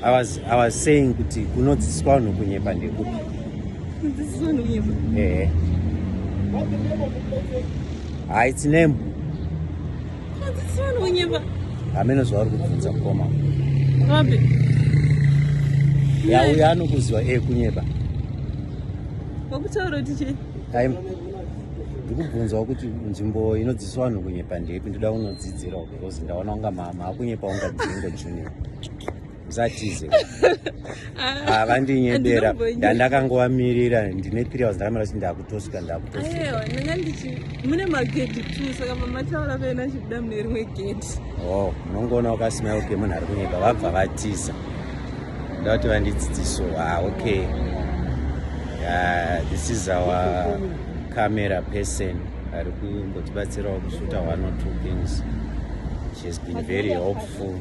I was, I was saying kuti kunodzidziswa vanhu kunyepa ndekupi kudzidziswa vanhu kunyepa ehe ha its name kunodzidziswa vanhu kunyepa hameno zvavari kubvunza mukoma vapi yauya anokuziva e kunyepa wakutaura kuti chii ndikubvunzawo kuti nzvimbo inodzidziswa vanhu kunyepa ndepi ndoda kunodzidzirawo because ndaona unga mama akunyepa unga dzingo junior musatize ah, vandinyebera ndandakangovamirira ndine three hours ndakamira kuti ndakutosvika ndakutosvikandangandimune magedhi t saka mamataura vena chibuda mune rimwe gedhi o oh, munongoona wakasmile okay munhu ari kunyeba vabva vatiza nda kuti vandidzidziso ha ah, okay uh, this is our camera person ari ku kutibatsirawo kusvuta one or two things she has been very helpful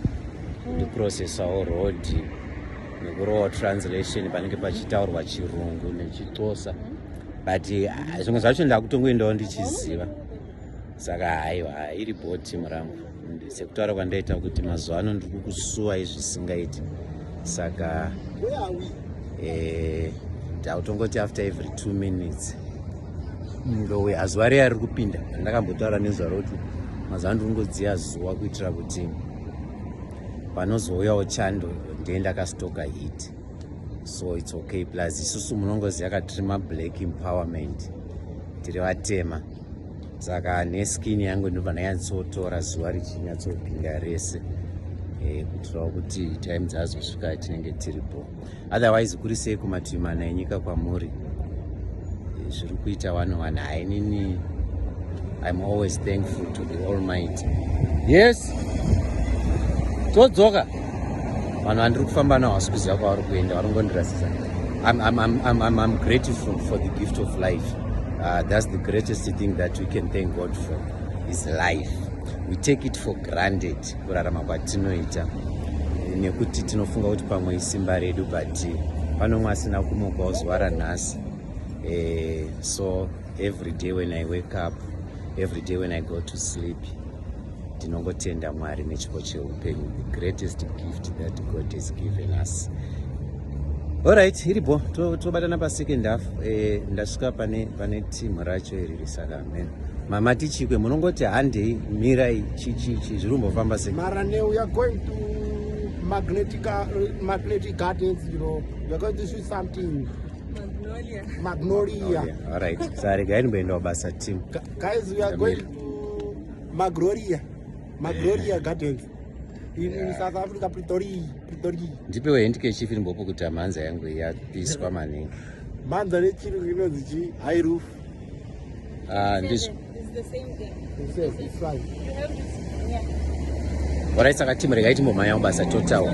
ndiprocessawo road nekurowa translation panenge pachitaurwa chirungu nechixosa but ah, zvimwe zvacho ndakutongoendawo ndichiziva saka haiwa iri bho timu rangu sekutaura kwandaita kuti mazuva ano ndiri kusuwa izvisingaiti saka eh, ndautongoti after every two minutes ndowe azuva rei ari kupinda andakambotaura nezuva rokuti mazuva ano ndikungodziya zuva kuitira kuti panozouyawo chando ndee ndakastoka hit so its okay plus isusu munongoziva katiri mablack empowerment tiri vatema saka neskin yangu ndinobva ndanyatsotora zuva richinyatsobhinga rese eh, kuitirawo kuti time dzazosvika tinenge tiripo otherwise kuri sei kumativi mana enyika kwamuri eh, zviri kuita wani wani hainini im always thankful to the all might yes todzoka vanhu vandiri kufamba nawo hasi kuziva kwavari kuenda varongondirasisa I'm, I'm, I'm, I'm, I'm grateful for the gift of life Uh, that's the greatest thing that we can thank God for is life. We take it for granted kurarama kwatinoita nekuti tinofunga kuti pamwe isimba redu but pano mwe asina kumuka uzwara nhasi eh, so every day when I wake up, every day when I go to sleep Ndinongotenda Mwari nechipo cheupenyu, the greatest gift that God has given us. Alright, iripo tobatana to pasecond half eh, ndasvika pane pane team racho iri risaka amen. Mama tichikwe munongoti handei mirai chichichi zviri kumbofamba sei? Mara ne we are going to magnetic uh, magnetic gardens you know we are going to shoot something Magnolia. Magnolia. Magnolia. All right. Sorry, guys, we are going. magloria magloria gardens in, yeah. in south africa pretoria pretoria ndipewo hendike chief ndimbopo kuti amhanza yangu yapiswa maningi mhanza nechirungu inonzi chi high roof ah, ndizvo orai saka timu regai timbomhanya kubasa totawa